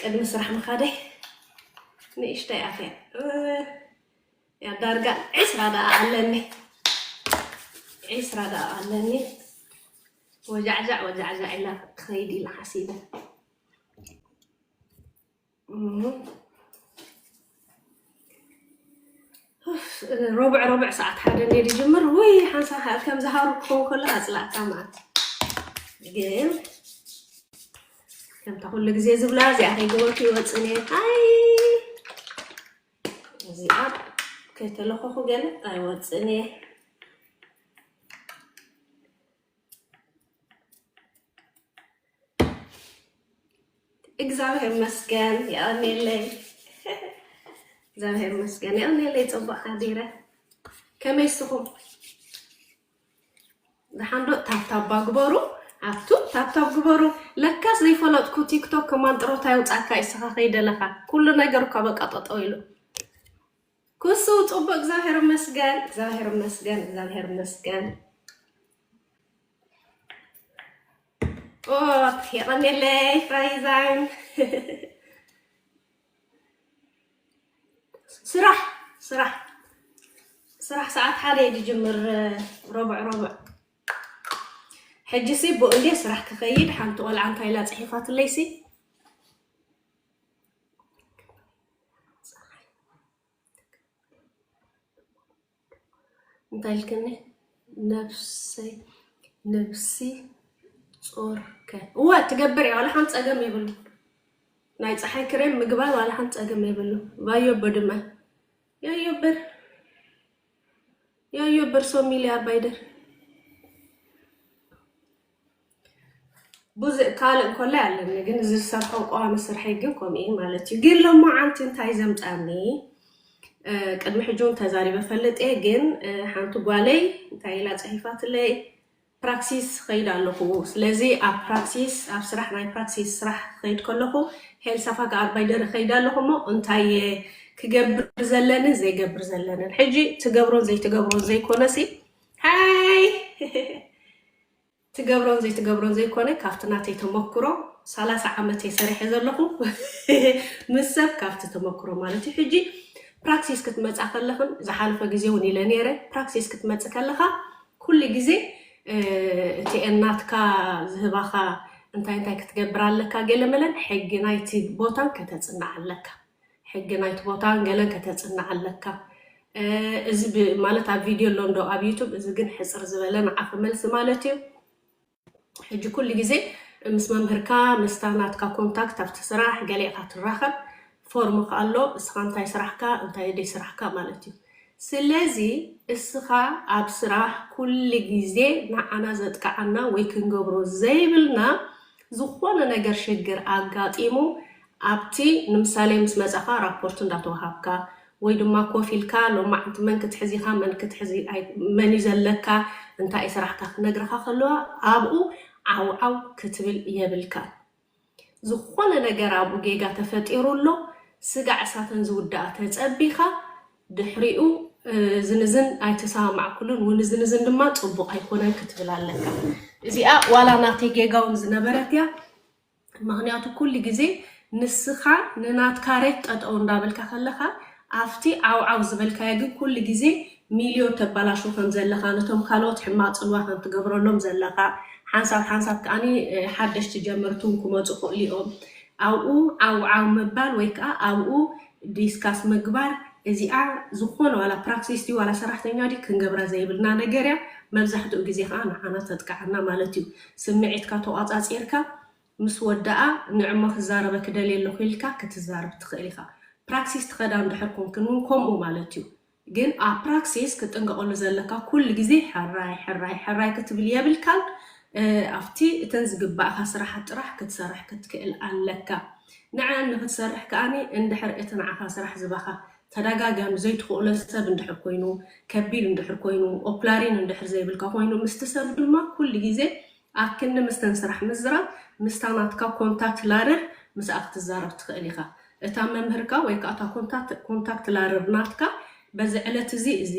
ቅድሚ ስራሕ ምኻደይ ንእሽተይ ኣትያ ያ ዳርጋ ዕስራ ደኣ ኣለኒ ዕስራ ደኣ ኣለኒ ወጃዕጃዕ ወጃዕጃዕ ኢላ ክኸይድ ኢላ ሓሲበ ሮብዕ ሮብዕ ሰዓት ሓደ እንደ ዝጅምር ወይ ሓንሳ ከም ዝሃሩ ክኸውን ከሎ ኣፅላእካ መዓት ግን ከምታ ኩሉ ግዜ ዝብላ እዚኣ ከይገበርኩ ይወፅእ እየ ኣይ እዚኣ ከይተለኸኹ ገለ ኣይወፅእን እየ እግዚኣብሔር ይመስገን የቀኔለይ እግዚኣብሔር ይመስገን የቀኔለይ ፅቡቅ ሓዲረ ከመይ ስኹም ዝሓንዶ ታብታባ ግበሩ ኣብቱ ታብታብ ግበሩ ለካስ ዘይፈለጥኩ ቲክቶክ ከማን ጥሮታ ይውፃካ ይስኻ ከይደለኻ ኩሉ ነገር እኳ በቃ ጠጠው ኢሉ ኩሱ ጹቡቅ እግዛብሄር እመስገን እግዛብሄር እመስገን እግዛብሄር እመስገን ኦክ የቀኔለይ ራይዛይን ስራሕ ስራሕ ስራሕ ሰዓት ሓደ እዩ ዝጅምር ረቡዕ ረቡዕ ሕጂሲ ብኡ እንዴ ስራሕ ክኸይድ ሓንቲ ቆልዓ እንታይ ኢላ ጽሒፋትለይሲ በልክኒ ነብሰይ ነብሲ ጾርከ እወ ትገብር እያ ዋላ ሓንቲ ጸገም የብሉ ናይ ፀሓይ ክሬም ምግባር ዋላ ሓንቲ ጸገም የብሉ ባዮቦ ድማ ያዮብር ያዮብር ሶሚሊ ኣባይደር ብዙእ ካልእ እንኮላይ ኣለኒ ግን እዚ ዝሰርሖ ቀዋሚ ስርሐይ ግን ከምኡ እዩ ማለት እዩ ግን ሎማዓንቲ እንታይ ዘምፃኒ ቅድሚ ሕጂ እውን ተዛሪበ ፈልጥ እየ ግን ሓንቲ ጓለይ እንታይ ኢላ ፅሒፋትለይ ፕራክሲስ ኸይድ ኣለኹ ስለዚ ኣብ ፕራክሲስ ኣብ ስራሕ ናይ ፕራክሲስ ስራሕ ኸይድ ከለኹ ሄልሳ ፋጋ ኣርባይደር ኸይድ ኣለኹ እሞ እንታይ እየ ክገብር ዘለንን ዘይገብር ዘለንን ሕጂ ትገብሮን ዘይትገብሮን ዘይኮነሲ ሃይ ትገብሮን ዘይትገብሮን ዘይኮነ ካብቲ ናተይ ተመኩሮ ሰላሳ ዓመት እየ ሰሪሐ ዘለኹ ምስ ሰብ ካብቲ ተመኩሮ ማለት እዩ ሕጂ ፕራክሲስ ክትመፃ ከለኽን ዝሓለፈ ግዜ እውን ኢለ ነይረ ፕራክሲስ ክትመፅ ከለኻ ኩሉ ግዜ እቲ እናትካ ዝህባኻ እንታይ እንታይ ክትገብር ኣለካ ገለ መለን ሕጊ ናይቲ ቦታን ከተፅንዕ ኣለካ ሕጊ ናይቲ ቦታን ገለን ከተጽንዕ ኣለካ እዚ ብ ማለት ኣብ ቪድዮ ኣሎ እንዶ ኣብ ዩቱብ እዚ ግን ሕጽር ዝበለ ንዓፈ መልሲ ማለት እዩ ሕጂ ኩሉ ግዜ ምስ መምህርካ ምስታ ናትካ ኮንታክት ኣብቲ ስራሕ ገለ ኢኻ ትራኸብ ፎርም ከኣ ኣሎ እስኻ እንታይ ስራሕካ እንታይ ደይ ስራሕካ ማለት እዩ ስለዚ እስኻ ኣብ ስራሕ ኩሉ ግዜ ንዓና ዘጥቅዓና ወይ ክንገብሮ ዘይብልና ዝኾነ ነገር ሽግር ኣጋጢሙ ኣብቲ ንምሳሌ ምስ መጻኻ ራፖርት እንዳተዋሃብካ ወይ ድማ ኮፍ ኢልካ ሎማዓንቲ መን ክትሕዝ ኢኻ መን ክትሕዝ መን እዩ ዘለካ እንታይ እዩ ስራሕካ ክነግርኻ ከለዋ ኣብኡ ዓው ዓው ክትብል የብልካን ዝኾነ ነገር ኣብኡ ጌጋ ተፈጢሩ ኣሎ ስጋዕ እሳተን ዝውዳኣ ተጸቢኻ ድሕሪኡ እዝን እዝን ኣይተሰማማዕኩሉን ውን እዝን እዝን ድማ ጽቡቕ ኣይኮነን ክትብል ኣለካ። እዚኣ ዋላ ናተይ ጌጋ ውን ዝነበረት እያ። ምክንያቱ ኩሉ ግዜ ንስኻ ንናትካ ሬት ጠጠው እንዳበልካ ከለኻ ኣብቲ ዓውዓው ዝበልካዮ ግን ኩሉ ግዜ ሚልዮ ተባላሹ ከም ዘለኻ ነቶም ካልኦት ሕማቕ ጽልዋ ከም ትገብረሎም ዘለኻ ሓንሳብ ሓንሳብ ከኣኒ ሓደሽቲ ጀመርቲ ውን ክመጹ ክእሉ እዮም ኣብኡ ዓውዓው ምባል ወይ ከኣ ኣብኡ ዲስካስ ምግባር እዚኣ ዝኾነ ዋላ ፕራክሲስ ድዩ ዋላ ሰራሕተኛ ድዩ ክንገብራ ዘይብልና ነገር እያ መብዛሕትኡ ግዜ ከኣ ንዓና ተጥቅዓና ማለት እዩ ስምዒትካ ተቋጻጺርካ ምስ ወዳኣ ንዕማ ክዛረበ ክደልየ ኣለኹ ኢልካ ክትዛረብ ትኽእል ኢኻ ፕራክሲስ ትኸዳ እንድሕር ኮንክን ውን ከምኡ ማለት እዩ ግን ኣብ ፕራክሲስ ክትጥንቀቐሉ ዘለካ ኩሉ ግዜ ሕራይ ሕራይ ሕራይ ክትብል የብልካን ኣብቲ እተን ዝግባእካ ስራሓት ጥራሕ ክትሰርሕ ክትክእል ኣለካ ንዐኣን ንክትሰርሕ ከኣ እንድሕር እቲ ንዓካ ስራሕ ዝባካ ተዳጋጋሚ ዘይትክእሎ ሰብ እንድሕር ኮይኑ ከቢድ እንድሕር ኮይኑ ኦፕላሪን እንድሕር ዘይብልካ ኮይኑ ምስቲ ሰብ ድማ ኩሉ ግዜ ኣብ ክንዲ ምስተን ስራሕ ምዝራብ፣ ምስታ ናትካ ኮንታክት ላርር ምስኣ ክትዛረብ ትኽእል ኢኻ። እታ መምህርካ ወይ ከኣ እታ ኮንታክት ላርር ናትካ በዚ ዕለት እዚ እዚ፣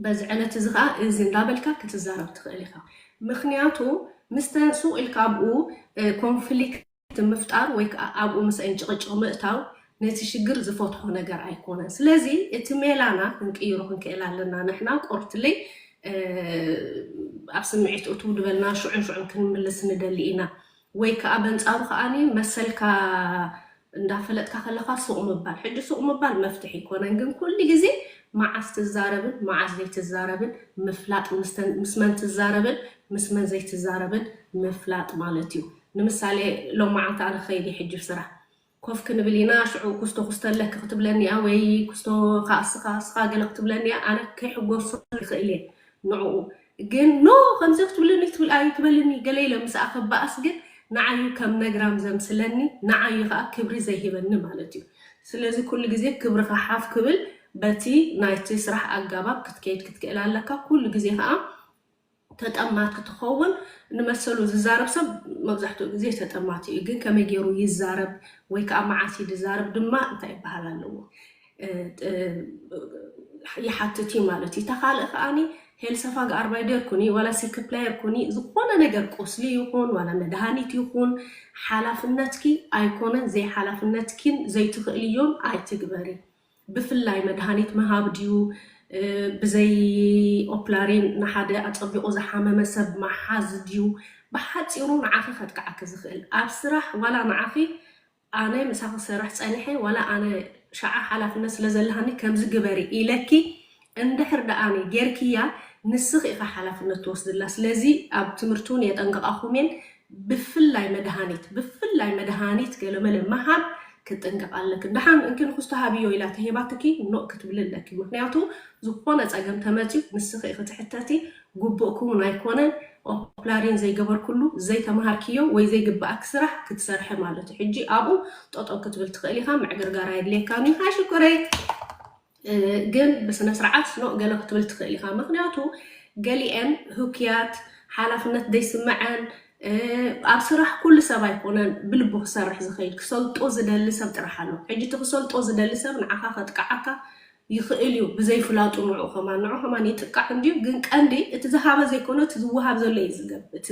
በዚ ዕለት እዚ ከኣ እዚ እንዳበልካ ክትዛረብ ትኽእል ኢኻ። ምኽንያቱ ምስተን ሱቕ ኢልካ ኣብኡ ኮንፍሊክት። እቲ ምፍጣር ወይ ከኣ ኣብኡ ምስኤን ጭቕጭቕ ምእታው ነቲ ሽግር ዝፈትሖ ነገር ኣይኮነን። ስለዚ እቲ ሜላና ክንቅይሮ ክንክእል ኣለና። ንሕና ቆርትለይ ኣብ ስምዒት እትው ድበልና ሽዑን ሽዑን ክንምልስ ንደሊ ኢና። ወይ ከኣ በንጻሩ ከኣ መሰልካ እንዳፈለጥካ ከለኻ ሱቕ ምባል። ሕጂ ሱቕ ምባል መፍትሒ ኣይኮነን ግን ኩሉ ግዜ መዓስ ትዛረብን መዓስ ዘይትዛረብን ምፍላጥ ምስ መን ትዛረብን ምስ መን ዘይትዛረብን ምፍላጥ ማለት እዩ። ንምሳሌ ሎም መዓልቲ ኣነ ክኸይድ እየ ሕጂ ስራሕ ኮፍ ክንብል ኢና ሽዑ ኩስቶ ኩስተለኪ ክትብለኒ እያ ወይ ኩስቶ ካኣ እስኻ እስኻ ገለ ክትብለኒ እያ ኣነ ከይሕጎሶ ይኽእል እየ ንዑኡ ግን ኖ ከምዚ ክትብለኒ ክትብል ኣይትበልኒ ገለ ኢለ ምስኣ ክባኣስ ግን ንዓይ ከም ነግራም ዘምስለኒ ንዓይ ካኣ ክብሪ ዘይህበኒ ማለት እዩ ስለዚ ኩሉ ግዜ ክብርኻ ሓፍ ክብል በቲ ናይቲ ስራሕ ኣጋባብ ክትከይድ ክትክእል ኣለካ ኩሉ ግዜ ካኣ ተጠማቲ ትኸውን ንመሰሉ ዝዛረብ ሰብ መብዛሕትኡ ግዜ ተጠማቲ እዩ ግን ከመይ ገይሩ ይዛረብ ወይ ከዓ መዓስ እዩ ዝዛረብ ድማ እንታይ ይበሃል ኣለዎ ይሓትት እዩ ማለት እዩ እታ ካልእ ከዓኒ ሄልሰፋ ገኣርባይ ደር ኩኒ ዋላ ሲክፕላየር ኩኒ ዝኾነ ነገር ቁስሊ ይኹን ዋላ መድሃኒት ይኹን ሓላፍነትኪ ኣይኮነን ዘይሓላፍነትኪን ዘይትኽእልዮን ኣይትግበሪ ብፍላይ መድሃኒት ምሃብ ድዩ ብዘይ ኦፕላሪን ንሓደ ኣጸቢቑ ዝሓመመ ሰብ ምሓዝ ድዩ ብሓጺሩ ንዓኺ ከጥቅዓኪ ዝኽእል ኣብ ስራሕ ዋላ ንዓኺ ኣነ ምሳኺ ክሰርሕ ጸኒሐ ዋላ ኣነ ሽዓ ሓላፍነት ስለ ዘለሃኒ ከምዚ ግበሪ ኢለኪ እንድሕር ደኣኒ ጌርክያ ንስኺ ኢኺ ሓላፍነት ትወስድላ ስለዚ ኣብ ትምህርቲ ውን የጠንቅቓኹም እየን ብፍላይ መድሃኒት ብፍላይ መድሃኒት ገለመለ ምሃብ ክትጥንቀቒ ኣለክን ደሓን እንኪ ንክስቶ ሃብዮ ኢላ ተሂባትኪ ኖእ ክትብሊ ኣለኪ ምክንያቱ ዝኾነ ጸገም ተመጽዩ ንስኺ ኢኺ ትሕተቲ ጉቡእኪ ውን ኣይኮነን ኦፕላሪን ዘይገበርክሉ ዘይተማሃርክዮ ወይ ዘይግብኣኪ ስራሕ ክትሰርሒ ማለት እዩ ሕጂ ኣብኡ ጠጠው ክትብል ትኽእል ኢኻ ምዕግርጋር ኣየድልየካን እዩ ሃይ ሽኮረይ ግን ብስነስርዓት ኖእ ገለ ክትብል ትኽእል ኢኻ ምኽንያቱ ገሊኤን ህኩያት ሓላፍነት ዘይስመዐን ኣብ ስራሕ ኩሉ ሰብ ኣይኮነን ብልቡ ክሰርሕ ዝኽእል ክሰልጦ ዝደሊ ሰብ ጥራሕ ኣሎ ሕጂ እቲ ክሰልጦ ዝደሊ ሰብ ንዓኻ ከጥቅዓካ ይኽእል እዩ ብዘይፍላጡ ንዑ ከማን ንዑ ከማን ይጥቃዕ እንድዩ ግን ቀንዲ እቲ ዝሃበ ዘይኮነ እቲ ዝወሃብ ዘሎ እዩ እቲ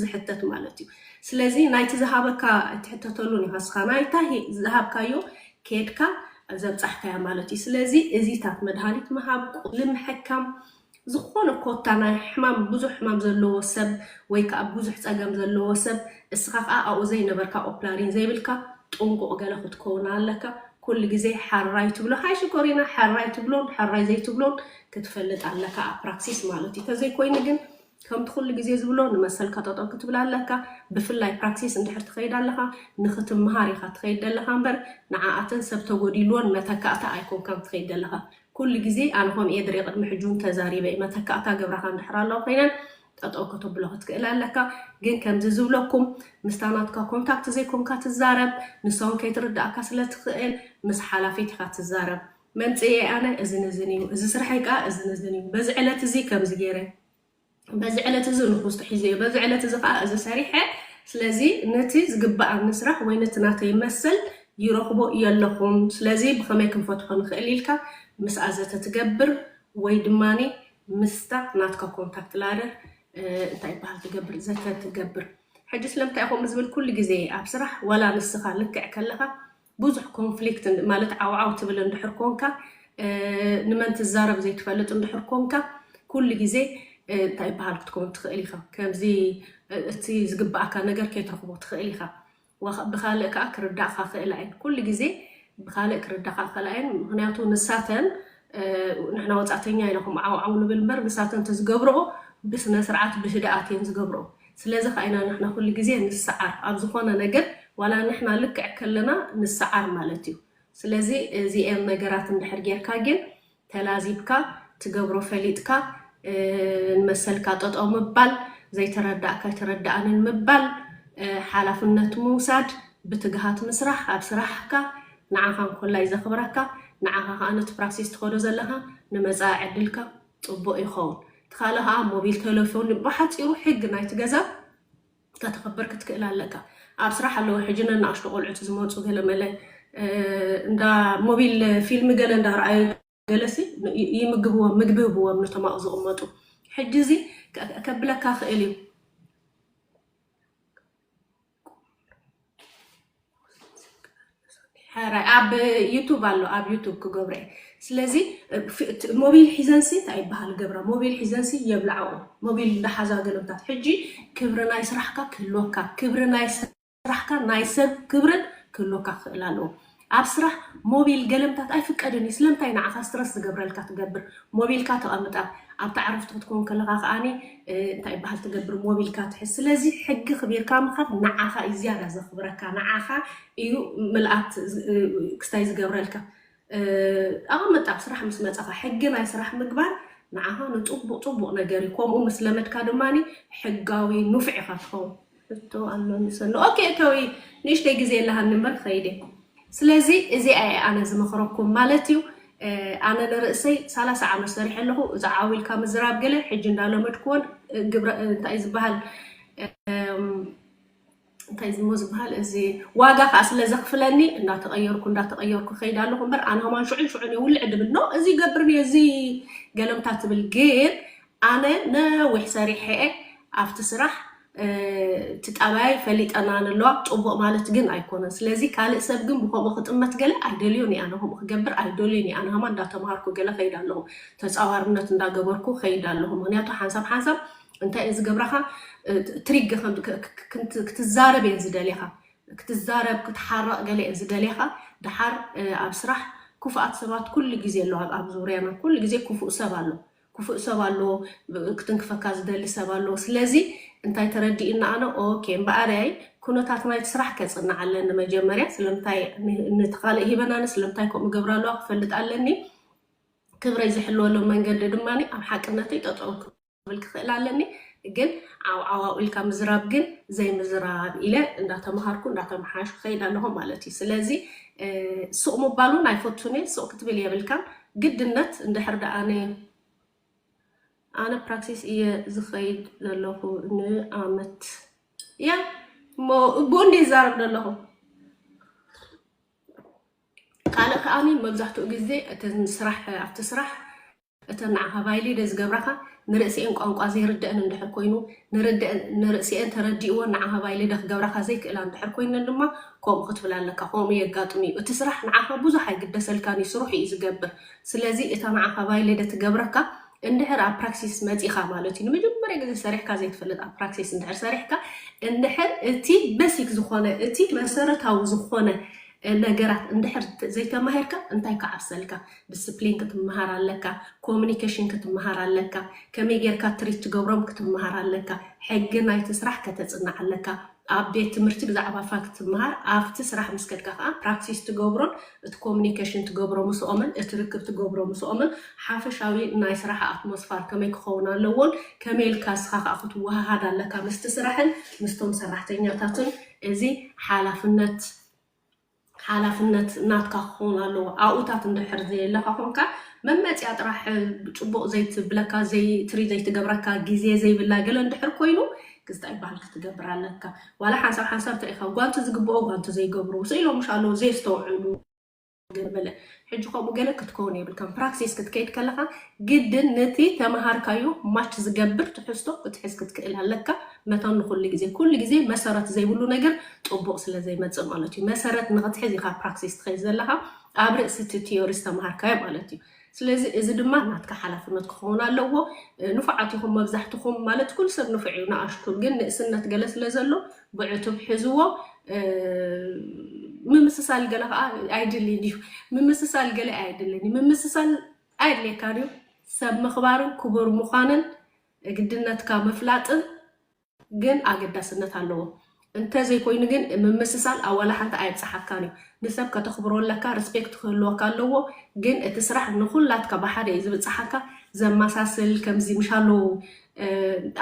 ዝሕተት ማለት እዩ ስለዚ ናይቲ ዝሃበካ ኣይትሕተተሉን ኢኻ እስኻ ናይታ ዝሃብካዮ ኬድካ ዘብጻሕካያ ማለት እዩ። ስለዚ እዚታት መድሃኒት ምሃብ፣ ቁስሊ ምሕካም፣ ዝኾነ ኮታ ናይ ሕማም ብዙሕ ሕማም ዘለዎ ሰብ ወይ ከኣ ብዙሕ ጸገም ዘለዎ ሰብ እስኻ ከኣ ኣብኡ ዘይነበርካ ኦፕላሪን ዘይብልካ ጥንቁቕ ገለ ክትከውን ኣለካ። ኩሉ ግዜ ሐራይ ትብሎ ሃይ ሽኮሪና ሐራይ ትብሎን ሐራይ ዘይትብሎን ክትፈልጥ ኣለካ ኣብ ፕራክሲስ ማለት እዩ። ተዘይኮይኑ ግን ከምቲ ኩሉ ግዜ ዝብሎ ንመሰልካ ጠጠው ክትብል ኣለካ ብፍላይ ፕራክሲስ እንድሕር ትከይድ ኣለካ ንክትምሃር ኢካ ትከይድ ደለካ እምበር ንዓኣተን ሰብ ተጎዲልወን መተካእታ ኣይኮንካን ትከይድ ደለካ ኩሉ ግዜ ኣነ ኮምኡ እየ ድሪኤ ቅድሚ ሕጂ ውን ተዛሪበ እየ መተካእታ ገብራካ እንድሕር ኣለዋ ኮይነን ጠጠው ከተብሎ ክትክእል ኣለካ ግን ከምዚ ዝብለኩም ምስታ ናትካ ኮንታክት ዘይኮንካ ትዛረብ ንሳ ውን ከይትርዳኣካ ስለ ትክእል ምስ ሓላፊት ኢካ ትዛረብ መምጽኢየይ ኣነ እዝን እዝን እዩ፣ እዚ ስርሐይ ከኣ እዝን እዝን እዩ። በዚ ዕለት እዚ ከምዚ ገይረ፣ በዚ ዕለት እዚ ንኹስቶ ሒዘ እየ፣ በዚ ዕለት እዚ ከኣ እዚ ሰሪሐ፣ ስለዚ ነቲ ዝግበኣኒ ስራሕ ወይ ነቲ ናተይ መሰል ይረኽቦ የለኹን፣ ስለዚ ብኸመይ ክንፈትሖ ንኽእል ኢልካ ምስኣ ዘተ ትገብር ወይ ድማ ምስታ ናትካ ኮንታክት ላደር እንታይ ይበሃል ትገብር ዘተ ትገብር። ሕጂ ስለምንታይ እየ ከምኡ ዝብል ኩሉ ግዜ ኣብ ስራሕ ዋላ ንስኻ ልክዕ ከለኻ ብዙሕ ኮንፍሊክት ማለት ዓውዓው ትብል እንድሕር ኮንካ፣ ንመን ትዛረብ ዘይትፈልጥ እንድሕር ኮንካ፣ ኩሉ ግዜ እንታይ ይበሃል ክትከውን ትኽእል ኢኻ። ከምዚ እቲ ዝግበኣካ ነገር ከይትረኽቦ ትኽእል ኢኻ። ወ ብኻልእ ከኣ ክርዳእኻ ክኽእላ እየን። ኩሉ ግዜ ብኻልእ ክርዳኻ ክኽእላ እየን። ምኽንያቱ ንሳተን ንሕና ወጻእተኛ ኢና ከምኡ ዓውዓው ንብል እምበር ንሳተን እንተዝገብርኦ ብስነ ስርዓት ብህድኣት እየን ዝገብርኦ። ስለዚ ከኣ ኢና ንሕና ኩሉ ግዜ ንስዓር ኣብ ዝኾነ ነገር ዋላ ንሕና ልክዕ ከለና ንስዓር ማለት እዩ ስለዚ እዚኤን ነገራት እንድሕር ጌርካ ጌን ተላዚብካ ትገብሮ ፈሊጥካ ንመሰልካ ጠጠው ምባል ዘይተረዳእካ ኣይተረዳኣንን ምባል ሓላፍነት ምውሳድ ብትግሃት ምስራሕ ኣብ ስራሕካ ንዓኻ እንኮላይ ዘኽብረካ ንዓኻ ከኣ ነቲ ፕራሴስ ትኸዶ ዘለኻ ንመጻኢ ዕድልካ ጽቡቅ ይኸውን እቲ ካልእ ከኣ ሞቢል ተለፎን ብሓጺሩ ሕግ ናይቲ ገዛ ከተኽብር ክትክእል ኣለካ ኣብ ስራሕ ኣለዉ ሕጂ ነናእሽቱ ቆልዑት ዝመጹ ገለ መለ እንዳ ሞቢል ፊልም ገለ እንዳ ረኣዩ ገለሲ ይምግብዎም ምግቢ ህብዎም ነቶም ኣብኡ ዝቕመጡ ሕጂ እዚ ከብለካ ክእል እዩ ሕራይ ኣብ ዩቱብ ኣሎ ኣብ ዩቱብ ክገብረ እየ ስለዚ ሞቢል ሒዘንሲ እንታይ ይበሃል ገብረ ሞቢል ሒዘንሲ የብላዕኡ ሞቢል እንዳሓዛ ገለምታት ሕጂ ክብሪ ናይ ስራሕካ ክህልወካ ክብሪ ናይ ስራሕካ ናይ ሰብ ክብርን ክህልወካ ክኽእል ኣለዎ ኣብ ስራሕ ሞቢል ገለምታት ኣይፍቀድን እዩ ስለምታይ ንዓካ ስትረስ ዝገብረልካ ትገብር ሞቢልካ ተቀምጣ ኣብቲ ዓረፍቲ ክትኮን ከለካ ከኣ እንታይ ይበሃል ትገብር ሞቢልካ ትሕዝ ስለዚ ሕጊ ክቢርካ ምካድ ንዓካ እዩ ዝያዳ ዘክብረካ ንዓካ እዩ ምልኣት ክስታይ ዝገብረልካ ኣቀምጥ ኣብ ስራሕ ምስ መጻካ ሕጊ ናይ ስራሕ ምግባር ንዓካ ንጽቡቅ ጽቡቅ ነገር እዩ ከምኡ ምስ ለመድካ ድማ ሕጋዊ ኑፍዕ ኢካ ትከውን ሕቶ ኣሎኒ ሰኑ ኦኬ እቶይ ንእሽተይ ግዜ ኣለሃኒ እምበር ክኸይድ እየ ስለዚ እዚኣ እየ ኣነ ዝመኽረኩም ማለት እዩ ኣነ ንርእሰይ ሰላሳ ዓመት ሰሪሐ ኣለኹ እዚ ዓው ኢልካ ምዝራብ ገለ ሕጂ እንዳለመድክዎን ግብረ እንታይ እዩ ዝበሃል እንታይ ዝሞ ዝበሃል እዚ ዋጋ ከዓ ስለ ዘኽፍለኒ እንዳተቐየርኩ እንዳተቐየርኩ ከይድ ኣለኹ እምበር ኣነ ከማን ሽዑን ሽዑን እየ ውልዕ ድብል ኖ እዚ ገብርን እየ እዚ ገለምታ ትብል ግን ኣነ ነዊሕ ሰሪሐ እየ ኣብቲ ስራሕ እቲ ጣባያይ ፈሊጠናን ኣለዋ ጹቡቅ ማለት ግን ኣይኮነን ስለዚ ካልእ ሰብ ግን ብከምኡ ክጥመት ገለ ኣይደልዮን እየ ኣነ ከምኡ ክገብር ኣይዶልይን እየ ኣነከማ እንዳተማሃርኩ ገለ ከይድ ኣለኩ ተጻዋርነት እንዳገበርኩ ከይድ ኣለኩ ምክንያቱ ሓንሳብ ሓንሳብ እንታይ እየን ዝገብራካ ትሪግ ክትዛረብ እየን ዝደልያካ ክትዛረብ ክትሓረቅ ገለ እየን ዝደልያካ ደሓር ኣብ ስራሕ ኩፉኣት ሰባት ኩሉ ግዜ ኣለዋ ኣብ ዙርያና ኩሉ ግዜ ኩፉእ ሰብ ኣሎ ክፉእ ሰብ ኣሎ ክትንክፈካ ዝደሊ ሰብ ኣሎ ስለዚ እንታይ ተረዲኡኒ ኣነ ኦኬ እምበኣርይ ኩነታት ናይቲ ስራሕ ከጽንዕ ኣለኒ መጀመርያ ስለምንታይ ነቲ ካልእ ሂበናኒ ስለምንታይ ከምኡ ገብራ ኣለዋ ክፈልጥ ኣለኒ ክብረይ ዝሕልወሉ መንገዲ ድማ ኣብ ሓቅነተይ ጠጠው ክብል ክኽእል ኣለኒ ግን ዓውዓዋው ኢልካ ምዝራብ ግን ዘይምዝራብ ኢለ እንዳተምሃርኩ እንዳተመሓየሽኩ ከይድ ኣለኹ ማለት እዩ ስለዚ ሱቕ ምባል እውን ኣይፈቱን እየ ሱቕ ክትብል የብልካን ግድነት እንድሕር ደኣ ነይሩ፣ ኣነ ፕራክሲስ እየ ዝኸይድ ዘለኹ ንኣመት። ያ እሞ እቡኡ እንድየ ዝዛረብ ዘለኹ። ካልእ ከኣኒ መብዛሕትኡ ግዜ እተን ስራሕ ኣብቲ ስራሕ እተን ንዓኻ ቫይሊደ ዝገብራኻ ንርእሲኤን ቋንቋ ዘይርደእን እንድሕር ኮይኑ ንርደእን ንርእሲኤን ተረዲእወን ንዓኻ ባይ ልደ ክገብራኻ ዘይክእላ እንድሕር ኮይነን ድማ ከምኡ ክትብል ኣለካ ከምኡ የጋጥም እዩ እቲ ስራሕ ንዓኻ ብዙሕ ኣይግደሰልካን እዩ ስርሑ እዩ ዝገብር ስለዚ እታ ንዓኻ ባይ ልደ ትገብረካ እንድሕር ኣብ ፕራክሲስ መጺኻ ማለት እዩ ንመጀመርያ ግዜ ሰሪሕካ ዘይትፈልጥ ኣብ ፕራክሲስ እንድሕር ሰሪሕካ እንድሕር እቲ በሲክ ዝኾነ እቲ መሰረታዊ ዝኾነ ነገራት እንድሕር ዘይተማሂርካ እንታይ ክዓብሰልካ ድስፕሊን ክትመሃር ኣለካ ኮሙኒከሽን ክትመሃር ኣለካ ከመይ ጌርካ ትሪት ትገብሮም ክትመሃር ኣለካ ሕጊ ናይቲ ስራሕ ከተጽንዕ ኣለካ ኣብ ቤት ትምህርቲ ብዛዕባ ፋክት ትመሃር ኣብቲ ስራሕ ምስ ከድካ ከኣ ፕራክቲስ ትገብሮን እቲ ኮሙኒከሽን ትገብሮ ምስኦምን እቲ ርክብ ትገብሮ ምስኦምን ሓፈሻዊ ናይ ስራሕ ኣትሞስፋር ከመይ ክኸውን ኣለዎን ከመይ ኢልካ ንስኻ ከኣ ክትወሃሃድ ኣለካ ምስቲ ስራሕን ምስቶም ሰራሕተኛታትን እዚ ሓላፍነት ሓላፍነት ናትካ ክኸውን ኣለዎ ኣብኡታት እንድሕር ዘየለኻ ኮንካ መመጽያ ጥራሕ ጽቡቕ ዘይትብለካ ዘይትሪ ዘይትገብረካ ግዜ ዘይብላ ገለ እንድሕር ኮይኑ ግዝጣ ይበሃል ክትገብር ኣለካ ዋላ ሓንሳብ ሓንሳብ እንታይ ኢኻ ጓንቲ ዝግብኦ ጓንቲ ዘይገብሩ ስኢሎምሽ ኣለዉ ዘየስተውዕሉ ገለ በለ ሕጂ ከምኡ ገለ ክትከውን የብልካን። ፕራክሲስ ክትከይድ ከለኻ ግድን ንቲ ተመሃርካዮ ማች ዝገብር ትሕዝቶ ክትሕዝ ክትክእል ኣለካ። መታን ንኹሉ ግዜ። ኩሉ ግዜ መሰረት ዘይብሉ ነገር ጥቡቕ ስለ ዘይመጽእ ማለት እዩ። መሰረት ንኽትሕዝ ኢኻ ፕራክሲስ ትኸይድ ዘለኻ ኣብ ርእሲ እቲ ቲዮሪ ዝተመሃርካዮ ማለት እዩ። ስለዚ እዚ ድማ ናትካ ሓላፍነት ክኸውን ኣለዎ። ንፉዓት ኢኹም መብዛሕትኹም ማለት ኩሉ ሰብ ንፉዕ እዩ ንኣሽቱ ግን ንእስነት ገለ ስለ ዘሎ ብዕቱብ ሕዝዎ ምምስሳል ገለ ከዓ ኣይድልን እዩ ምምስሳል ገለ ኣይድልን እዩ ምምስሳል ኣየድልየካን እዩ ሰብ ምኽባርን ክቡር ምዃንን ግድነትካ ምፍላጥን ግን ኣገዳስነት ኣለዎ እንተዘይኮይኑ ግን ምምስሳል ኣዋላ ሓንቲ ኣየብፅሓካን እዩ ንሰብ ከተኽብሮ ኣለካ ሪስፔክት ክህልወካ ኣለዎ ግን እቲ ስራሕ ንኩላትካ ብሓደ እዩ ዝብፅሓካ ዘመሳስል ከምዚ ምሻለዉ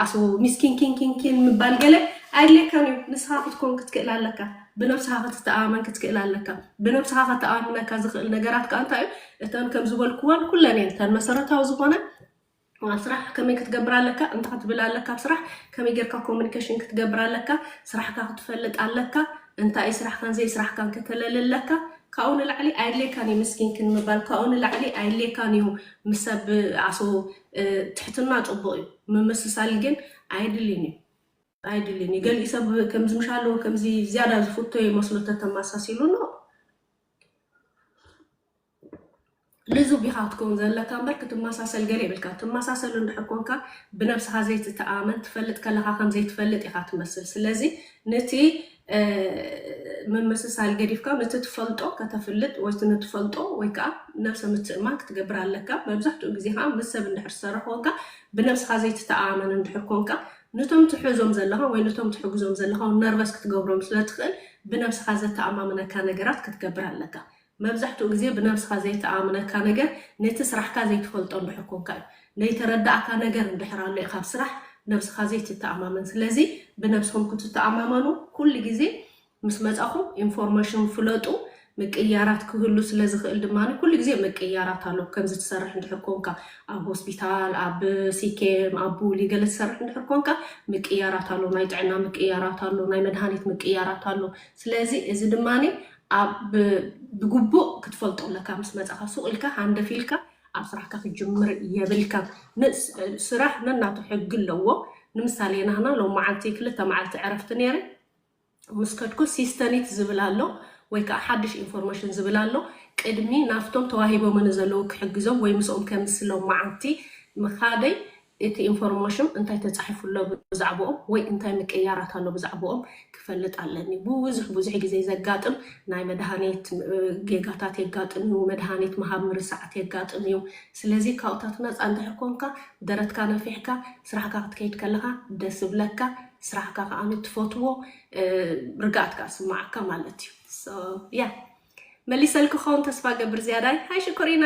ኣስቡ ሚስኪን ኪንኪንኪን ምባል ገለ ኣየድልየካን እዩ ንስኻ ክትኮን ክትክእል ኣለካ ብነብስኻ ክትተኣማመን ክትክእል ኣለካ ብነብስኻ ከተኣምነካ ዝኽእል ነገራት ከዓ እንታይ እዩ እተን ከም ዝበልክወን ኩለን እየን እተን መሰረታዊ ዝኾነ ኣብ ስራሕ ከመይ ክትገብር ኣለካ እንታይ ክትብል ኣለካ ኣብ ስራሕ ከመይ ጌርካ ኮሚኒኬሽን ክትገብር ኣለካ ስራሕካ ክትፈልጥ ኣለካ እንታይ እዩ ስራሕካን ዘይስራሕካን ከተለሊ ኣለካ ካብኡ ንላዕሊ ኣየድልየካን እዩ ምስኪንክን ምባል ካብኡ ንላዕሊ ኣየድልየካን እዩ ምሰብ ዓሶ ትሕትና ጹቡቅ እዩ ምምስሳል ግን ኣይድሊን እዩ ኣይድሊን እዩ ገሊእ ሰብ ከምዚ ምሻ ኣለዎ ከምዚ ዝያዳ ዝፍቶ ይመስሎ ተተማሳሲሉ ኖ ልዙብ ኢኻ ክትከውን ዘለካ እምበር ክትመሳሰል ገለ ይብልካ ትመሳሰል እንድሕር ኮንካ ብነብስኻ ዘይትተኣመን ትፈልጥ ከለኻ ከም ዘይትፈልጥ ኢኻ ትመስል ስለዚ ነቲ ምምስሳል ገዲፍካ ነቲ ትፈልጦ ከተፍልጥ ወይ እቲ ንትፈልጦ ወይ ከኣ ነብሰ ምትእምማን ክትገብር ኣለካ። መብዛሕትኡ ግዜ ከኣ ምስ ሰብ እንድሕር ትሰርሕ ኮንካ ብነብስኻ ዘይትተኣኣመን እንድሕር ኮንካ ኑቶም ትሕዞም ዘለኻ ወይ ኑቶም ትሕግዞም ዘለኻ ውን ነርቨስ ክትገብሮም ስለ ትኽእል ብነብስኻ ዘተኣማምነካ ነገራት ክትገብር ኣለካ። መብዛሕትኡ ግዜ ብነብስኻ ዘይተኣኣምነካ ነገር ነቲ ስራሕካ ዘይትፈልጦ እንድሕር ኮንካ እዩ። ነይተረዳኣካ ነገር እንድሕር ኣሎ እዩ ካብ ስራሕ ነብስኻ ዘይትተኣማመን። ስለዚ ብነብስኹም ክትተኣማመኑ ኩሉ ግዜ ምስ መጻኹም ኢንፎርመሽን ፍለጡ ምቅይያራት ክህሉ ስለ ዝኽእል ድማ ኩሉ ግዜ ምቅይያራት ኣሎ። ከምዚ ትሰርሕ እንድሕር ኮንካ ኣብ ሆስፒታል ኣብ ሲኬም ኣብ ቡሊ ገለ ትሰርሕ እንድሕር ኮንካ ምቅይያራት ኣሎ ናይ ጥዕና ምቅይያራት ኣሎ ናይ መድሃኒት ምቅይያራት ኣሎ። ስለዚ እዚ ድማ ኣብ ብግቡእ ክትፈልጦ ኣለካ ምስ መጻካ ሱቅ ኢልካ ሃንደፍ ኢልካ ኣብ ስራሕካ ክትጅምር የብልካን ን ስራሕ ነናቱ ሕጊ ኣለዎ ንምሳሌ ናህና ሎማዓንቲ ክልተ ማዓልቲ ዕረፍቲ ነይረ ምስ ከድኩ ሲስተኒት ዝብል ኣሎ ወይ ካኣ ሓድሽ ኢንፎርመሽን ዝብል ኣሎ ቅድሚ ናፍቶም ተዋሂቦምኒ ዘለዉ ክሕግዞም ወይ ምስኦም ከምስ ሎማዓንቲ ምካደይ እቲ ኢንፎርሞሽም እንታይ ተጻሒፉ ኣሎ ብዛዕብኦም ወይ እንታይ ምቅይያራት ኣሎ ብዛዕብኦም ክፈልጥ ኣለኒ። ብብዙሕ ብዙሕ ግዜ ዘጋጥም ናይ መድሃኒት ጌጋታት የጋጥም እዩ፣ መድሃኒት ምሃብ ምርሳዓት የጋጥም እዩ። ስለዚ ካብኡታት ነጻ እንድሕር ኮንካ ደረትካ ነፊሕካ ስራሕካ ክትከይድ ከለኻ ደስ እብለካ፣ ስራሕካ ከኣ ትፈትዎ ርግኣት ከኣ ዝስምዓካ ማለት እዩ። ሶ ያ መሊሰልኪ ክኸውን ተስፋ እገብር ዝያዳይ። ሃይ ሽኮሪና!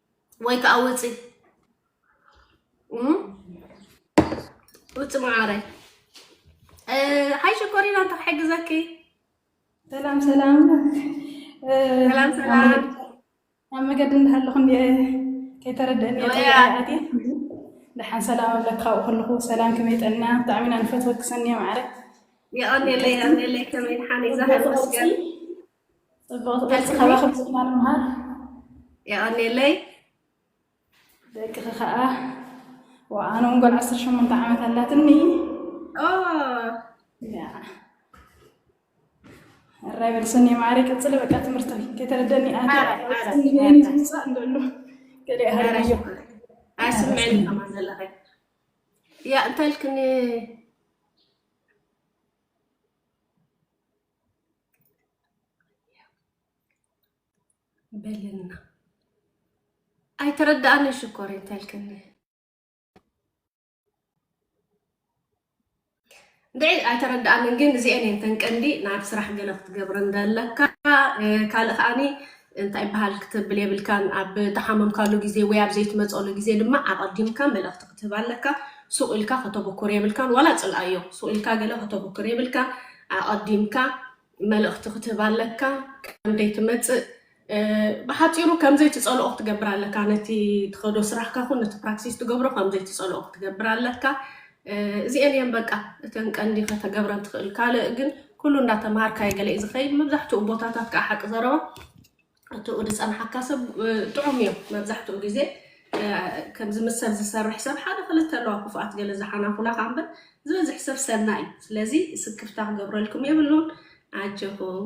ወይ ከዓ ውፂ ውፂ መዓረይ ሓይ ሽኮሪና እንታይ ክሕግዘኪ ሰላም ሰላም ሰላም ሰላም ኣብ መገዲ እንዳሃለኹ እንዲ ከይተረድአኒ ኣቲ ደሓን ሰላም ኣብለክ ካብኡ ከለኹ ሰላም ከመይ ጠና ብጣዕሚ ኢና ንፈትወኪ ሰኒየ ማዕረ የቐኔለይ የቐኔለይ ከመይ ድሓን ይዛሃል መስገን ፅብቕቲ ቅርፂ ካባኽም ዝኽና ንምሃር የቐኔለይ ደቅኺ ከዓ ኣነ እውን ጓል ዓሰርተ ሸሞንተ ዓመት ኣላትኒ እራይ በልሰኒ ማዕሪ ቅፅሊ በቃ ትምህርቲ ከይተረደኒ ኣትፅንፃእ እንደሉ ገለ ሃርዮ ኣይስምዕን ከማ ዘለኸ ያ እንታልክኒ በልና ኣይተረዳኣንን ሽኮር እንተልክኒ ድዒ ኣይተረዳኣንን ግን እዚኤን እየን ተን ቀንዲ ናብ ስራሕ ገለ ክትገብረን ዘለካ ካልእ ከዓኒ እንታይ ይበሃል ክትብል የብልካን። ኣብ ተሓመምካሉ ግዜ ወይ ኣብ ዘይትመጸሉ ግዜ ድማ ኣቐዲምካ መልእኽቲ ክትህብ ኣለካ። ሱቕ ኢልካ ከተብኩር የብልካን። ዋላ ጽልኣዮ ሱቕ ኢልካ ገለ ከተብኩር የብልካን። ኣቐዲምካ መልእኽቲ ክትህብ ኣለካ ከም ዘይትመጽእ ብሓፂሩ ከም ዘይትፀልኦ ክትገብር ኣለካ ነቲ ትኸዶ ስራሕካ ኹን ነቲ ፕራክሲስ ትገብሮ ከም ዘይትፀልኦ ክትገብር ኣለካ እዚኤን እየን በቃ እተን ቀንዲ ከተገብረን ትኽእል። ካልእ ግን ኩሉ እንዳተምሃርካዮ ገለ እዩ ዝኸይድ። መብዛሕትኡ ቦታታት ከዓ ሓቂ ዘረባ እትኡ ዝፀንሓካ ሰብ ጥዑም እዮም መብዛሕትኡ ግዜ ከምዚ ምስ ሰብ ዝሰርሕ ሰብ ሓደ ክልተ ኣለዋ ክፉኣት ገለ ዝሓናኹላ ከዓ እምበር ዝበዝሕ ሰብ ሰናይ እዩ። ስለዚ ስክፍታ ክገብረልኩም የብሉን። ኣጀኹም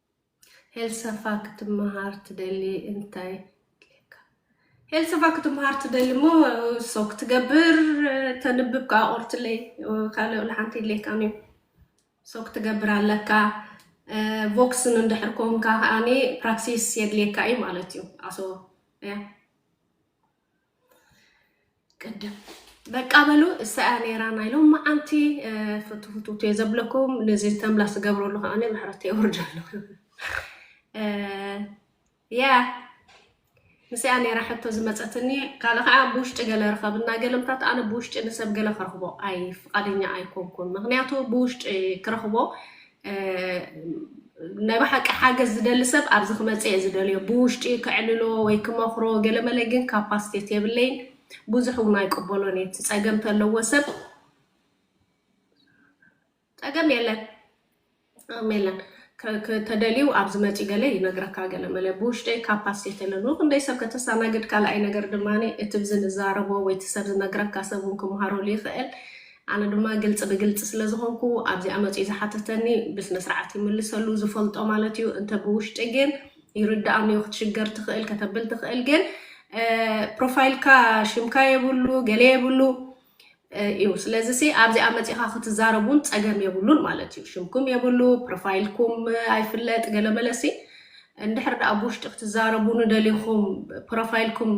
ሄልሰፋ ክትመሃር ትደሊ እንታይ ክህልካ። ሄልሰፋ ክትመሃር ትደሊ እሞ ሰው ክትገብር ተንብብ ከዓ ቆርትለይ ካልኦ ንሓንቲ ይድልየካን እዩ ሰው ክትገብር ኣለካ ቮክስን እንድሕር ኮንካ ከዓኒ ፕራክሲስ የድልየካ እዩ ማለት እዩ ኣሶ ቅድም በቃ በሉ እሳያ ነይራ ናይ ሎመዓንቲ ፍቱ ፍቱት እየ ዘብለኩም ነዚ ተምላስ ዝገብረሉ ከዓነ ምሕረት የውርድ ኣለኹ ያ ምስያ ነይራ ሕቶ ዝመፀትኒ ካልእ ከዓ ብውሽጢ ገለ ርኸብ እና ገለምታት ኣነ ብውሽጢ ንሰብ ገለ ክረኽቦ ኣይ ፍቃደኛ ኣይኮንኩን ምክንያቱ ብውሽጢ ክረኽቦ ናይ ብሓቂ ሓገዝ ዝደሊ ሰብ ኣብዚ ክመፀ እየ ዝደልዮ ብውሽጢ ከዕልሎ ወይ ክመኽሮ ገለመለ ግን ካፓስቴት የብለይን ብዙሕ እውን ኣይቅበሎን እየ እቲ ፀገም ተለዎ ሰብ ፀገም የለን ፀገም የለን ከ- ከ- ተደልዩ ኣብዚ መፂ ገለ ይነግረካ ገለመለ ብውሽጠይ ካፓስቴት የለን ንክንደይ ሰብ ከተስተናግድ ካልኣይ ነገር ድማ እቲ ብዚ ንዛረቦ ወይ እቲ ሰብ ዝነግረካ ሰብ እውን ክምሃረሉ ይኽእል ኣነ ድማ ግልፂ ብግልፂ ስለዝኾንኩ ኣብዚኣ መፂኡ ዝሓተተኒ ብስነስርዓት ይምልሰሉ ዝፈልጦ ማለት እዩ እንተ ብውሽጢ ግን ይርድኣኒዩ ክትሽገር ትኽእል ከተብል ትኽእል ግን ፕሮፋይልካ ሽምካ የብሉ ገለ የብሉ እዩ ስለዚ ሲ ኣብዚኣ መፂኻ ክትዛረብ እውን ፀገም የብሉን ማለት እዩ ሽምኩም የብሉ ፕሮፋይልኩም ኣይፍለጥ ገለ መለሲ እንድሕር ድኣ ብውሽጢ ክትዛረቡኒ ደሊኹም ፕሮፋይልኩም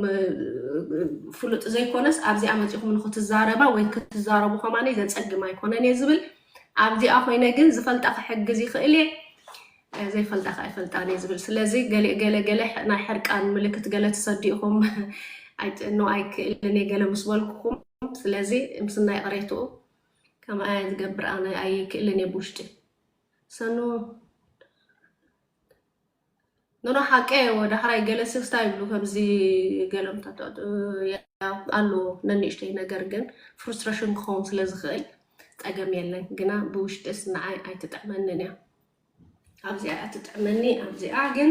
ፍሉጥ ዘይኮነስ ኣብዚኣ መጺኹም ንክትዛረባ ወይ ክትዛረቡ ከማነይ ዘጸግም ኣይኮነን እየ ዝብል ኣብዚኣ ኮይነ ግን ዝፈልጣ ክሕግዝ ይኽእል እየ ዘይፈልጣ ከዓ ይፈልጣን እየ ዝብል ስለዚ ገለ ገለ ናይ ሕርቃን ምልክት ገለ ትሰዱ ኢኹም ኣይጥኖ ኣይክእልን እየ ገለ ምስ በልኩኹም ስለዚ ምስና ይቕሬትኡ ከምኣ ዝገብር ኣነ ኣይክእልን እየ ብውሽጢ ሰኑ ኖኖ ሓቀ ወ ዳሕራይ ገለ ስክስታ ይብሉ ከምዚ ገለ ምታታት ኣለዎ ነንእሽተይ ነገር ግን ፍሩስትሬሽን ክኸውን ስለ ዝኽእል ጸገም የለን ግና ብውሽጢስ ንዓይ ኣይትጥዕመንን እያ ኣብዚኣ እያ ትጥዕመኒ ኣብዚኣ ግን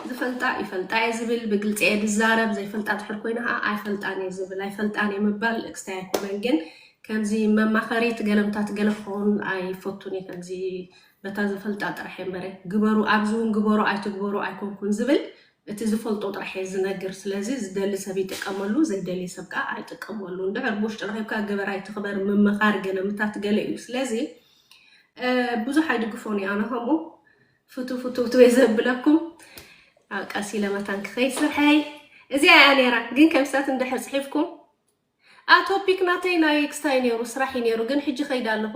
ዝፈልጣ ይፈልጣ እየ ዝብል ብግልፂ እየ ዝዛረብ ዘይፈልጣ ድሕር ኮይነ ከዓ ኣይፈልጣን እየ ዝብል ኣይፈልጣን እየ ምባል ክስታይ ኣይኮነን ግን ከምዚ መማኸሪት ገለምታት ገለ ክኸውን ኣይፈቱን እየ ከምዚ በታ ዝፈልጣ ጥራሕ እየ እምበረ ግበሩ ኣብዚ ውን ግበሩ ኣይትግበሩ ኣይኮንኩን ዝብል እቲ ዝፈልጦ ጥራሕ እየ ዝነግር ስለዚ ዝደሊ ሰብ ይጥቀመሉ ዘይደሊ ሰብ ከኣ ኣይጥቀመሉ እንድሕር ብውሽጢ ረኺብካ ግበር ኣይትኽበር ምምኻር ገለ ምታት ገለ እዩ ስለዚ ብዙሕ ኣይድግፎን እዩ ኣነ ከምኡ ፍቱ ፍቱ ፍቱ እየ ዘብለኩም ኣብ ቀሲ ለመታን ክኸይ ስርሐይ እዚኣ እያ ነይራ ግን ከምሳት እንድሕር ፅሒፍኩም ኣ ቶፒክ ናተይ ናይ ክስታይ ነይሩ ስራሕ እዩ ነይሩ ግን ሕጂ ከይዳ ኣለኹ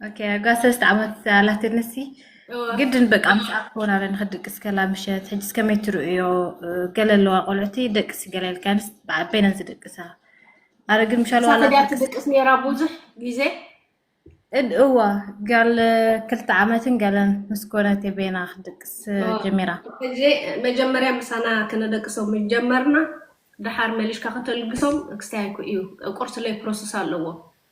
اوكي ጓ ሰለስተ ዓመት ኣላትኒ ሲ ግድን በቃ ምስ ኣኮን ኣለ ንክድቅስ ከላ ምሸት ሕጂ እስከ መይ ትርእዮ ገለ ኣለዋ ቆልዑቲ ደቅስ ገለ ኢልካንስ በይነን ዝድቅሳ ኣረ ግን ምሻል ዋላ ሳተድያ ትድቅስ ነይራ ብዙሕ ግዜ እድ እዋ ጋል ክልተ ዓመትን ገለን ምስ ኮነት በይና ክድቅስ ጀሚራ ሕጂ መጀመርያ ምሳና ከነደቅሶም ጀመርና ድሓር መሊሽካ ከተልግሶም ክስታይ እዩ ቁርሲ ለይ ፕሮሰስ ኣለዎ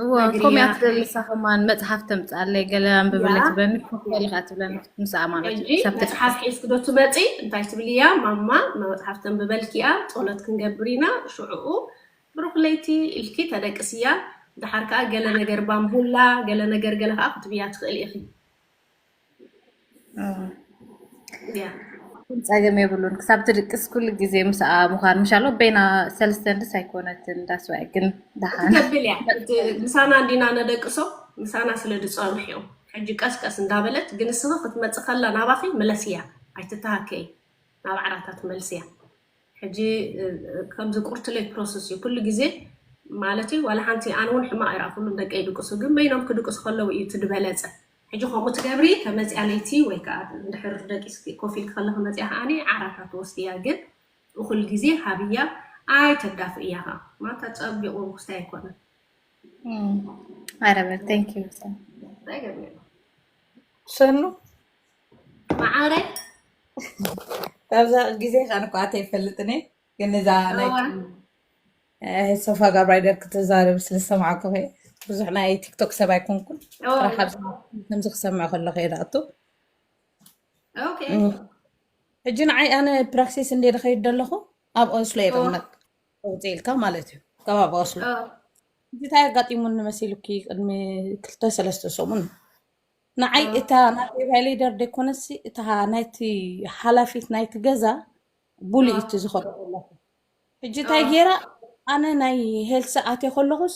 እዎ ከምኡ እያ ትደሊ ንሳ ከማን መፅሓፍ ተምፅኣለይ ገለ ኣንብብለይ ያ ትብለኒ ኮፈሊ ከዓ ትብለኒ ክትምስኣ ማለት እዩ ሕጂ ክሳብ መፅሓፍ ትጥሕስ ሒዝኪ ዶ ትመፂ እንታይ ትብልያ ማማ መፅሓፍ ተንብበልኪ እያ ፆሎት ክንገብር ኢና ሽዑኡ ብሩኽ ለይቲ ኢልኪ ተደቅስያ ደሓር ከዓ ገለ ነገር ባንቡላ ገለ ነገር ገለ ከዓ ክትብያ ትኽእሊ ኢኺ እያ ግን ጸገም የብሉን ክሳብ ትድቅስ ኩሉ ግዜ ምስኣ ምዃን ምሻሎ በይና ሰልስተንድስ ኣይኮነትን ዳስዋይ ግን ደሓን ትገብል እያ እቲ ምሳና እንዲና ነደቅሶ ምሳና ስለ ዝፀንሑ እዮም ሕጂ ቀስ ቀስ እንዳበለት ግን እስኺ ክትመፅእ ከላ ናባኺ ምለስያ ኣይትተሃከይ ናብ ዓራታ ትመልስያ ሕጂ እ፣ እ፣ ከምዚ ቁርትለይ ፕሮሰስ እዩ ኩሉ ግዜ ማለት እዩ ዋላ ሓንቲ ኣነ እውን ሕማቕ ይረኣኹሉም ደቂ ይድቅሱ ግን በይኖም ክድቅሱ ከለዉ እዩ እቲ ዝበለፀ ሕጂ ከምኡ ትገብሪ ተመጽያ ለይቲ ወይ ከኣ እንድሕር ደቂስኪ ኮፍ ኢልኪ ከለኺ መጽያ ከኣ ዓራታ ትወስድያ ግን እኹል ግዜ ሃብያ ኣይተዳፍእያ ከኣ ማታ ጸቢቑ ርኩስታይ ኣይኮነን ማረመ ቴንክ ዩ እንታይ ገርኒ ሰኑ መዓረይ ኣብዛ ግዜ ቃንቋ ተይፈልጥኒ ግን እዛ ናይ ኣይ ሶፋ ጋብራይ ደርክ ትዛረብ ስለ ዝሰማዕኩ ኸ ብዙሕ ናይ ቲክቶክ ሰብ ኣይኮንኩን ኦ ጥራሕ ኣብ ከምዚ ክሰምዕ ከለኹ እየ ዝኣቱ ኦኬ እም፣ ሕጂ ንዓይ ኣነ ፕራክሲስ እንደ ዝኸይድ ዘለኹ ኣብ ኦስሎ እየ ኦ እቕመጥ ውፅ ኢልካ ማለት እዩ ከባቢ ኦስሎ ኦ እዚ እንታይ ኣጋጢሙኒ መሲሉኪ ቅድሚ ክልተ ሰለስተ ሰሙን ንዓይ ኦ እታ ናተይ ቫይሌደር ደይኮነሲ እታ ናይቲ ሓላፊት ናይቲ ገዛ ቡሊ ኦ እዩ እቲ ዝኸዶ ዘለኹ ሕጂ እንታይ ኣዎ ጌራ ኣነ ናይ ሄልሲ ኣትየ ከለኹስ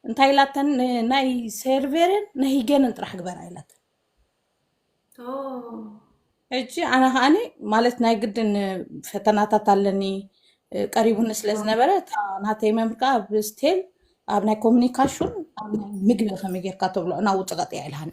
እንታይ ኢላተን ን- ናይ ሴርቬርን ናይ ሂገንን ጥራሕ ግበራ ኢላተን ኦ ሕጂ ኣነ ከዓኒ ማለት ናይ ግድን ፈተናታት ኣለኒ እ፣ ቀሪቡኒ ስለ ኦ ዝነበረ እታ ናተይ መምህር ከዓ ኣብ ስቴል ኣብ ናይ ኮሙኒካሽን ኣብ ናይ ምግቢ ከመይ ጌርካ ተብሎ እና ውፅቐጥ እያ ኢልሃኒ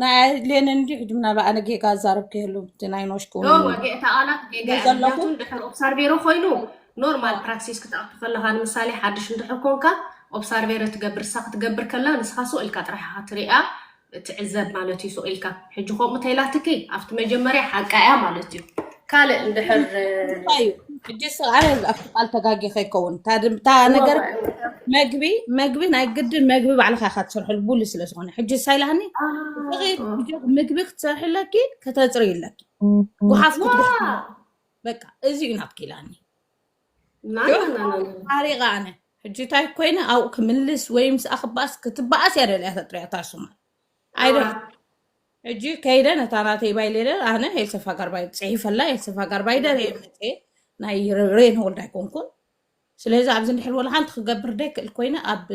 ናይ ሌን እንዲ ሕጅም ናብ ኣነ ጌጋ ዛረብ ከየሉ እቲ ናይ ኖሽ ክውን ኖር ወጌእ ተቓላት ጌጋ እያ ዘለኹ። ምክንያቱ እንድሕር ኦብሳርቬሮ ኮይኑ ኖርማል ፕራክሲስ ክትኣቱ ከለኻ ንምሳሌ ሓድሽ እንድሕር ኮንካ ኦብሳርቬረ ትገብር ንሳ ክትገብር ከላ ንስኻ ሱቕ ኢልካ ጥራሕ ኢኻ ትሪኣ ትዕዘብ ማለት እዩ ሱቕ ኢልካ ሕጂ ከምኡ ተኢላትኪ ኣብቲ መጀመርያ ሓቃ እያ ማለት እዩ ካልእ እንድሕር እንታይ እዩ ሕጂ ስ ኣነ ኣብቲ ቃል ተጋጊኸ ይከውን እታ ድም- እታ እወ ነገር እወ እወ መግቢ መግቢ ናይ ግድን መግቢ ባዕልካ ኢካ ትሰርሐሉ ቡሉ ስለ ዝኾነ ሕጂ ሳይላኒ እኺ ኣዎ ልጆክ ምግቢ ክትሰርሒ ኣለኪ ከተፅሪ ኣለኪ ጉሓፍ ዋ ክትጉሕ በቃ እዚ እዩ ናትኪ ኢላኒ ናና ዮ ናና ናና ሓሪቀ ኣነ ሕጂ እንታይ ኮይነ ኣብኡ ክምልስ ወይ ምስኣ ክበኣስ ክትበኣስ እያ ደልያ ተጥርያ እታ ሱማር ኣይደ ኣውራ ሕጂ ከይደ ነታ ናተይ ባይሌለ ኣነ ኤልሰፋ ጋርባይ ፅሒፈላ ኤልሰፋ ጋርባይ ደረ መፀ ናይ ሬን ወልድ ኣይኮንኩን ስለዚ ኣብዚ እንድሕር ወላ ሓንቲ ክገብር ደይክእል ኮይነ ኣብ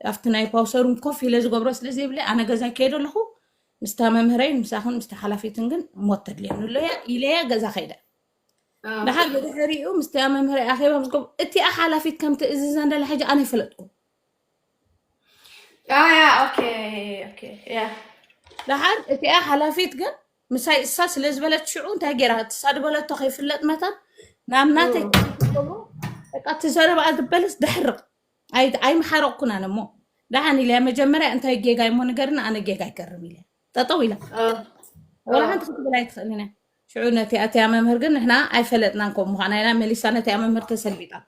ኣብቲ ናይ ፓውሰሩን ኮፍ ኢለ ዝገብሮ ስለ ዘይብለ ኣነ ገዛይ ከይደ ኣለኹ ምስታ መምህረይ ምሳኹን ምስታ ሓላፊትን ግን ሞት ተድልየኒ ኣሎ እያ ኢለያ ገዛ ከይደ ኣዎ ድሓር ብድሕሪኡ ምስቲ ኣብ መምህረይ ኣኼባ ምስ ገብ እቲኣ ሓላፊት ከም ትእዝዘን ደላ ሕጂ ኣነ ይፈለጥኩ ያ ያ ኦኬ ኦኬ ያ ደሓር እቲኣ ሓላፊት ግን ምሳይ እሳ ስለ ዝበለት ሽዑ እንታይ ገይራ ትሳድበለቶ ከይፍለጥ መታን ናብ ናተይ ክትገብሮ በቃ እቲ ዘረባኣ ዝበለስ ደሕርቕ ኣይ- ኣይምሓረቕኩን ኣነ እሞ ደሓን ኢለያ መጀመርያ እንታይ ጌጋ እሞ ንገርና ኣነ ጌጋ ኣይገርም ኢለያ ጠጠው ኢላ ወላ ሓንቲ ክትብል ኣይትኽእልን እያ ሽዑ ነቲ ኣቲያ መምህር ግን ንሕና ኣይፈለጥናን ከም ምዃና ኢና መሊሳ ነቲያ መምህር ተሰልቢጣታ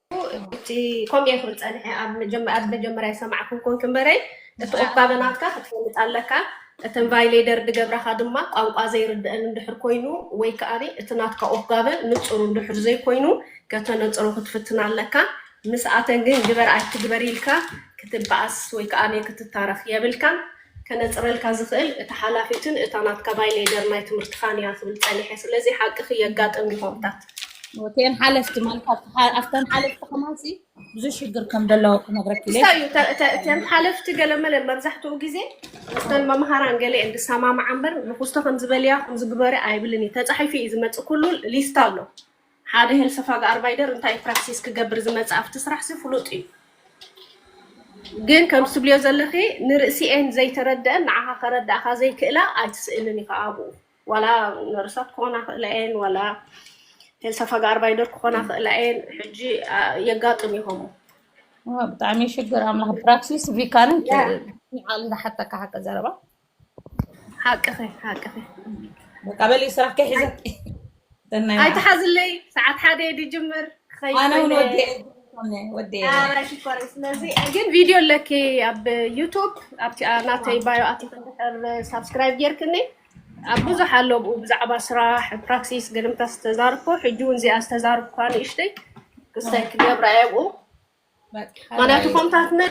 እቲ ከምኡ ይኹን ፀንሐ ኣብ መጀመ- ኣብ መጀመርያ ይሰማዕኩም ኮንክ እምበረይ እቲ ቁባበ ናትካ ክትፈልጥ ኣለካ እተን ቫይሌደር ድገብራኻ ድማ ቋንቋ ዘይርድአን እንድሕር ኮይኑ ወይ ከኣ እቲ ናትካ ኦፍጋበ ንፁር እንድሕር ዘይኮይኑ ከተነፅሮ ክትፍትን ኣለካ ምስኣተን ግን ግበር ኣይትግበር ኢልካ ክትበኣስ ወይ ከኣ ክትታረኽ የብልካን ከነጽረልካ ዝኽእል እታ ሓላፊትን እታ ናትካ ባይ ሌደር ናይ ትምህርትኻን እያ ክብል ጸኒሐ ስለዚ ሓቅኺ የጋጥም ሪፖርታት ወቴን ሓለፍቲ ማለት ኣብተን ሓለፍቲ ከማሲ ብዙ ሽግር ከም ዘለዎ ክነግረኪ እዩ እተን ሓለፍቲ ገለመለ መብዛሕትኡ ግዜ ምስተን መምሃራን ገለ እየን ዝሰማምዓ እምበር ንኩስቶ ከም ዝበልያ ከም ዝግበረ ኣይብልን እዩ ተፃሒፉ እዩ ዝመፅእ ኩሉ ሊስት ኣሎ ሓደ ሄልሰፋግ ኣርባይደር እንታይ ፕራክሲስ ክገብር ዝመጸ ኣብቲ ስራሕሲ ፍሉጥ እዩ ግን ከምቲ ትብልዮ ዘለኺ ንርእሲኤን ዘይተረደአን ንዓኻ ከረዳእኻ ዘይክእላ ኣይትስእልን ኢኻ ኣብኡ ዋላ ነርሳት ክኾና ክእላ እየን ዋላ ሄልሰፋግ ኣርባይደር ክኾና ክእላ እየን ሕጂ የጋጥም ይኸሙ ብጣዕሚ ሽግር ኣምላኽ ፕራክሲስ ቪካንን ያ ንዓል ዝሓተካ ሓቂ ዘረባ ሓቅኺ ሓቅኺ በቃ በሊ ስራሕከ ሒዘ ኣይትሓዝለይ ሰዓት ሓደ ድጅምር ክኸይድ ሽኮር ስለዚ ግን ቪድዮ ኣለኪ ኣብ ዩቱብ ኣብቲ ናተይ ባዮ ኣቲክ እንድሕር ሳብስክራይብ ጌርክኒ ኣብ ብዙሕ ኣሎ ብኡ ብዛዕባ ስራሕ ፕራክሲስ ገለምታ ዝተዛርኮ ሕጂ እውን እዚኣ ዝተዛርኩካ ንእሽተይ ክሳይ ክገብራ እየ ብኡ ምክንያቱ ከምታትና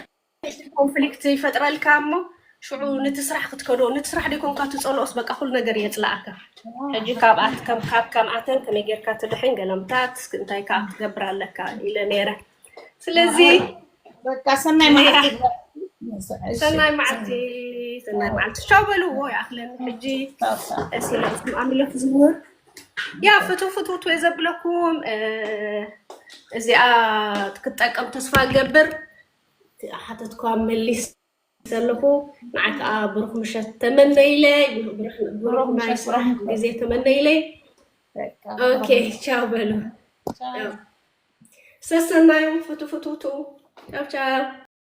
እቲ ኮንፍሊክት ይፈጥረልካ እሞ ሽዑ ንቲ ስራሕ ክትከዶ ንቲ ስራሕ ደይኮንካ ትፀልኦስ በቃ ኩሉ ነገር የፅላኣካ ሕጂ ካብኣት ከም ካብ ከምኣተን ከመይ ጌርካ ትድሕን ገለምታት እንታይ ከዓ ክትገብር ኣለካ ኢለ ነይረ ስለዚ ኣይ በቃ ሰናይ ነይራ መዓልቲ ይግበረልኪ። እሺ ሰናይ መዓልቲ ሰናይ ሰናይ መዓልቲ ቻው በልዎ ይኣኽለኒ ሕጂ ቻው ቻው ስለ ኣምልኽ ዝህወት ያ ፍትው ፍትውት ወይ ዘብለኩም እዚኣ ክትጠቀም ተስፋ ገብር ሓተትኳ መሊሰ ኣለኹ ንዓይ ከዓ ብሩኽ ምሸት ተመነይለይ ብሩኽ ናይ ስራሕ ግዜ ተመነይለይ ኦኬ ቻው በሉ ሰሰናዩ ፍቱ ፍቱቱ ቻው ቻው